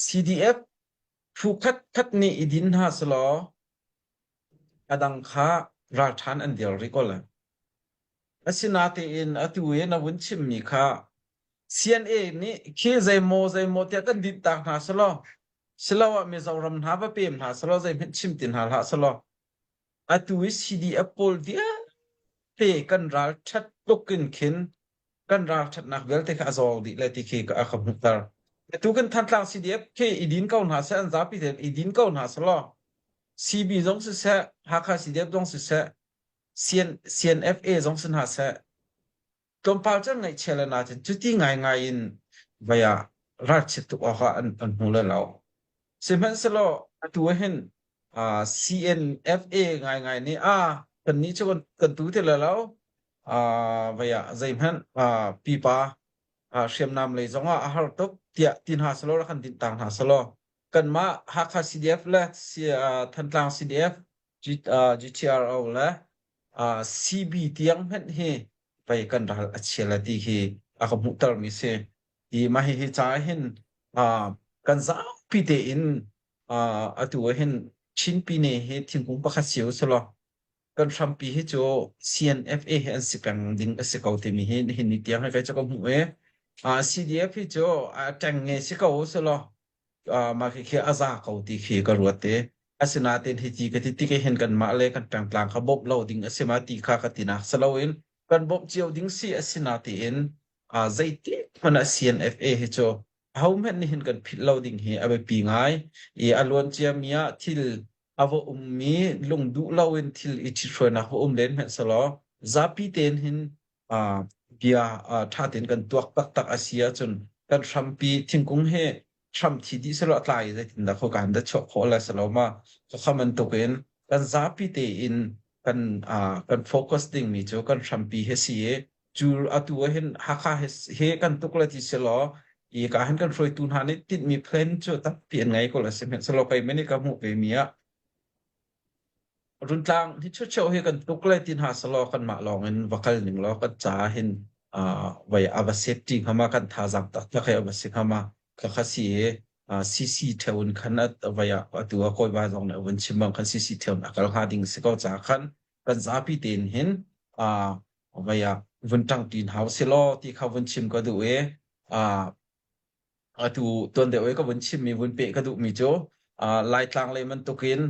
CDF phu khatkhat nih i din hna selaw a dang kha ralṭhan an dial rih ko lai. Asinatein atu i na vun chimmi kha CNA nih khi zeimaw zeimaw tiah kan dinh tak hna selaw siloah Mizoram hna va pem hna selaw zeihmanh chim ti hna hlah selaw atu i CDF pawl vialte kan ralṭhat tluk in khin kan ralṭhatnak vialte kha a zawk dih le ti khi ka ka hmuhter. Tu kan Thantlang CDF khi i din ko hna seh, an zapi tein i din ko hna seh law, CB zong siseh, Hakha CDF zong siseh, CNFA zong si hna seh, tlawmpal can ngaihchia le na cun cuti ngaingai in vaya ralchiat tuk awkah an an hmu le lo. Sihmanhsehlaw atu hin ah, CNFA ngaingai nih a kannih cu kan kan tu ti le lo uh, vai ah zeihmanh uh, pipa uh, hriamnam lei zong ah a har tuk tiah ti hna selaw ra kan din tang hna selaw kanmah Hakha CDF le uh, Thantlang CDF G, uh, GTRO le uh, CB tiang hmenh hi pei kan ral a chia la ti hi a ka hmuhter mi si i ma hi hi ca hin uh, kan zapi te in uh, atu hin Chin pi ne hi thingkung pakhat siu selaw Kan hrampi hi cu CNFA hi an si peng ding a si ko timi hi nihin ni tiang hi ve cu ka hmuh i uh, CDF hi cu uh, teng nge si ko selaw uh, mah khi khi a za ko ti khi ka ruat i asinain hi ti ka ti ti ke hin kan mah le kan tang tlang kha bawmh lo ding a si ma ti kha ka ti nak saloin kan bawmh cio ding si a si na tiin uh, zeitik hmana CNFA hi cu ho hmet nihin kan phit lo ding hi a biapi ngai i a luancia mi ah thil a va ummi lung duh loin thil i ṭhithruainak va um len hmanhselaw zapi tein hin ah bia ah ṭha tein kan tuak taktak a si ahcun kan hrampi thingkung hi hram thi dih selaw tlai zeitindah kho kan da chuah khawh la selaw ma khokham bantukin kan zapi tein kan ah kan focus dingmi cu kan hrampi hi si i cu atu ah hin Hakha he, he kan tuk le ti se law i ka han kan hruaitu hna nih tinhmi plan cu tampi an ngei ko le si hmanhselaw kei men i ka hmuh ve mi ah Runtlang hi chucheu hi kan tuk le ti hna se law kan mah lawng in va kal ning law kan ca hin uh, vai ava safety ngama kan tha zak tak tak he ava si ngama ka kha si e uh, CC theun khan at vai atu a koi ba zong ne un chimbang khan CC theun akal ha ding se ko ca khan kan zapi tein hin vai ah vun ṭang ṭin hau si law ti kha vun chim ka duh i atu tuan deuh i ka vun chimmi vun peh ka duhmi cu laitlang lei bantuk in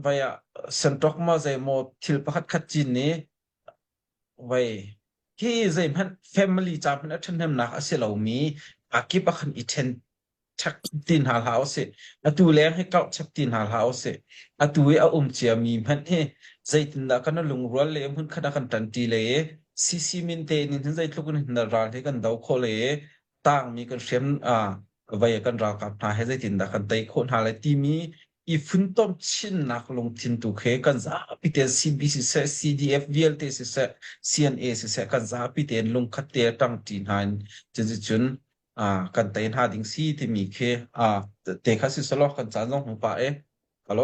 vai ah santok ma zei maw thil pakhat khat cin nih vai hi zeihmanh family ca hmanh a ṭhahnemnak a si lomi a kip a kan i ṭhen chek ti hna hlah u sih. Atu leng hi kauh chek ti hna hlah u sih. Atu i a um cia mi hmanh hi zeitindah kan lungrual le hmun khat kan tanti le CC min te nin hin zeitluk in hin ral hi kan do kho le tang mi kan hrem ah vai kan ralkap hna he zeitindah kan tei kho hna le timi i funtom chinnak lungthin tu khe kan zapi te CBC se CDF vialte si se CNA si se kan zapi te lungkhat te tang ti hna in chin cun Ah, kan tei hna ding si timi khi ah te kha si selaw kan caan zong hmu pah e. Halo.